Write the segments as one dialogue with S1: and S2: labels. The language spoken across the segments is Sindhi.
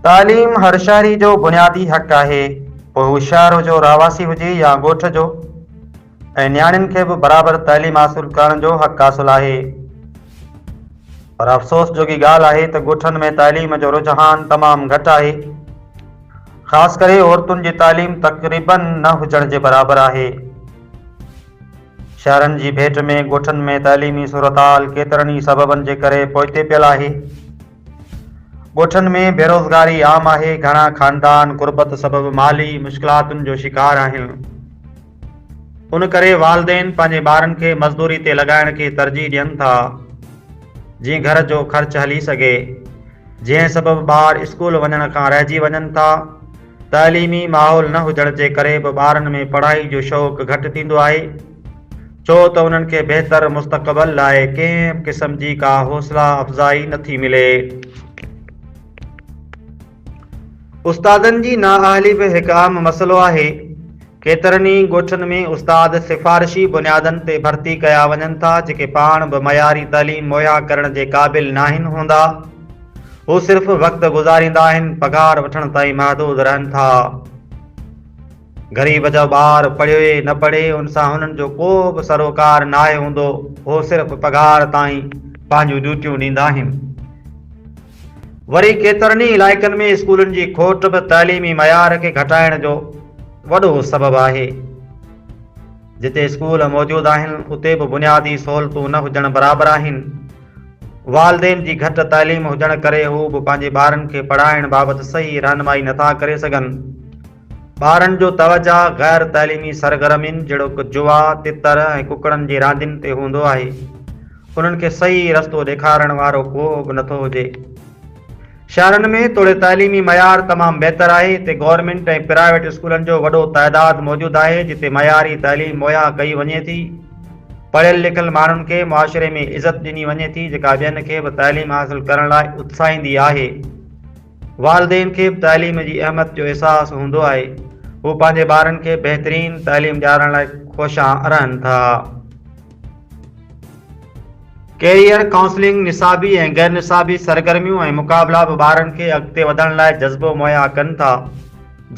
S1: تعليم هر شهري جو بنيادي حق آهي، پوء هو شهر جو رهواسي هجي يا ڳوٺ جو ۽ نياڻين کي به برابر تعليم حاصل ڪرڻ جو حق حاصل آهي. پر افسوس جوڳي ڳالهه آهي ته ڳوٺن ۾ تعليم جو رجحان تمام گهٽ آهي. خاص ڪري عورتن جي تعليم تقريبن نه هجڻ جي برابر آهي. شهرن جي ڀيٽ ۾ ڳوٺن ۾ تعليمي صورتحال ڪيترن ئي سببن جي ڪري پوئتي پيل آهي. ڳوٺن ۾ بيروزگاري عام آهي، گهڻا خاندان غربت سبب مالي مشڪلاتن جو شڪار آهن. ان ڪري والدين پنهنجي ٻارن کي مزدوري تي لڳائڻ کي ترجيح ڏين ٿا، جيئن گهر جو خرچ هلي سگهي، جنهن سبب ٻار اسڪول وڃڻ کان رهجي وڃن ٿا. تعليمي ماحول نه هجڻ جي ڪري به ٻارن ۾ پڙهائي جو شوق گهٽ ٿيندو آهي ڇو ته انهن کي بهتر مستقبل لاء ڪنهن به قسم جي ڪا حوصلا افزائي نه ٿي ملي. استادن جي نااهلي به هڪ اهم مسئلو آهي. ڪيترن ئي ڳوٺن ۾ استاد سفارشي بنيادن تي ڀرتي ڪيا وڃن ٿا جيڪي پاڻ به معياري تعليم مهيا ڪرڻ جي قابل ناهن هوندا. هو صرف وقت گذاريندا آهن، پگهار وٺڻ تائين محدود رهن ٿا. غريب جو ٻار پڙهي نه پڙهي ان سان هنن جو ڪو به سروڪار ناهي هوندو، هو صرف پگهار تائين پنهنجون ڊيوٽيون ڏيندا آهن. وري ڪيترن ئي علائقن ۾ اسڪولن جي کوٽ به تعليمي معيار کي گهٽائڻ جو وڏو سبب آهي. جتي اسڪول موجود آهن اتي به بنيادي سهولتون نه هجڻ برابر آهن. والدين جي گهٽ تعليم هجڻ ڪري هو به پنهنجي ٻارن کي پڙهائڻ بابت صحيح رهنمائي نٿا ڪري سگهن. ٻارن جو توجهه غير تعليمي سرگرمين جهڙوڪ جوا، تتر ۽ ڪڪڙن جي راندين تي هوندو آهي. انهن کي صحيح رستو ڏيکارڻ وارو ڪو به نٿو هجي. شهرن ۾ توڙي تعليمي معيار تمام بهتر آهي، هتي گورنمينٽ ۽ پرائيويٽ اسڪولن جو وڏو تعداد موجود آهي، جتي معياري تعليم مهيا ڪئي وڃي ٿي. پڙهيل لکيل ماڻهن کي معاشري ۾ عزت ڏني وڃي ٿي، جيڪا ٻين کي به تعليم حاصل ڪرڻ لاء اتساهيندي آهي. والدين کي به تعليم جي اهمت جو احساس هوندو آهي، هو پنهنجي ٻارن کي بهترين تعليم ڏيارڻ لاء خوشان رهن ٿا. ڪيريئر ڪائونسلنگ، نصابي ۽ غير نصابي سرگرميون ۽ مقابلا به ٻارن کي اڳتي وڌڻ لاء جذبو مهيا ڪن ٿا.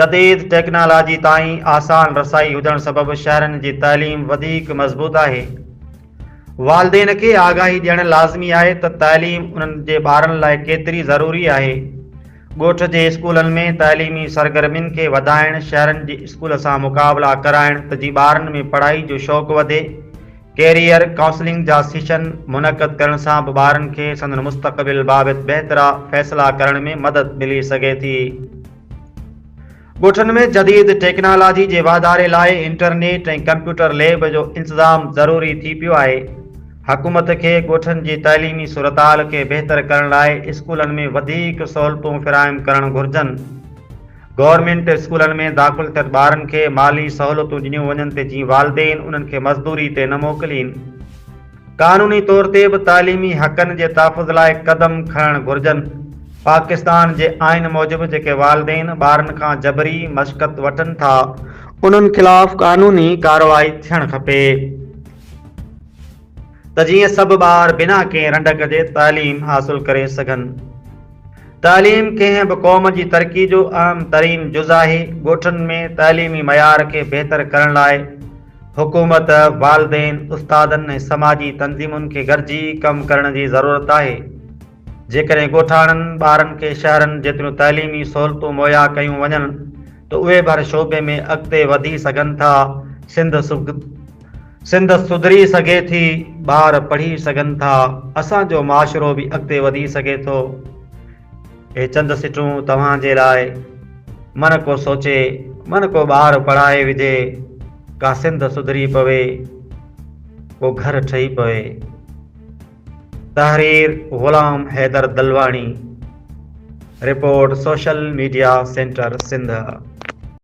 S1: جديد ٽيڪنالاجي تائين آسان رسائي هجڻ سبب شهرين جي تعليم وڌيڪ مضبوط آهي. والدين کي آگاهي ڏيڻ لازمي آهي ته تعليم انهن جي ٻارن لاء ڪيتري ضروري آهي. ڳوٺ جي اسڪولن ۾ تعليمي سرگرمين کي وڌائڻ، شهرن جي اسڪول سان مقابلا ڪرائڻ ته جي ٻارن ۾ پڙهائي جو شوق وڌي، ڪيريئر ڪائونسلنگ جا سيشن منعقد ڪرڻ سان به ٻارن کي سندن مستقبل بابت بهترا فيصلا ڪرڻ ۾ مدد ملي سگهي ٿي. ڳوٺن ۾ جديد ٽيڪنالاجي جي واڌاري لاء انٽرنيٽ ۽ ڪمپيوٽر ليب جو انتظام ضروري ٿي پيو آهي. حڪومت کي ڳوٺن جي تعليمي صورتحال کي بهتر ڪرڻ لاء اسڪولن ۾ وڌيڪ سهولتون فراهم ڪرڻ گهرجن. گورنمينٽ اسڪولن ۾ داخل ٿيل ٻارن کي مالي سهولتون ڏنيون وڃن تي جيئن والدين انهن کي مزدوري تي نه موڪلين. قانوني طور تي به تعليمي حقن جي تحفظ لاء قدم کڻڻ گهرجن، پاڪستان جي آئين موجب جيڪي والدين ٻارن کان جبري مشقت وٺن ٿا انهن خلاف قانوني ڪارروائي ٿيڻ کپي ته جيئن سڀ ٻار بنا ڪنهن رنڊڪ جي تعليم حاصل ڪري سگهن. تعليم ڪنهن به قوم جي ترقي جو اهم ترين جز آهي، ڳوٺن ۾ تعليمي معيار کي بهتر ڪرڻ لاء، حڪومت، والدين، استادن ۽ سماجي تنظيمن کي گڏجي ڪم ڪرڻ جي ضرورت آهي. جيڪڏهن ڳوٺاڻن ٻارن کي شهرن جيتريون تعليمي سهولتون مهيا ڪيون وڃن ته اهي به هر شعبي ۾ اڳتي وڌي سگهن ٿا، سنڌ سڌري سگهي ٿي، ٻار پڙهي سگهن ٿا، اسان جو معاشرو به اڳتي وڌي سگهي ٿو. هي چند سٽون توهان جي لاء. من ڪو سوچي، من ڪو ٻار پڙهائي وجهي، ڪا سنڌ سڌري پوي، ڪو گهر ٺهي پوي. تحرير Ghulam Haider Dilwani report social media centre Sindh.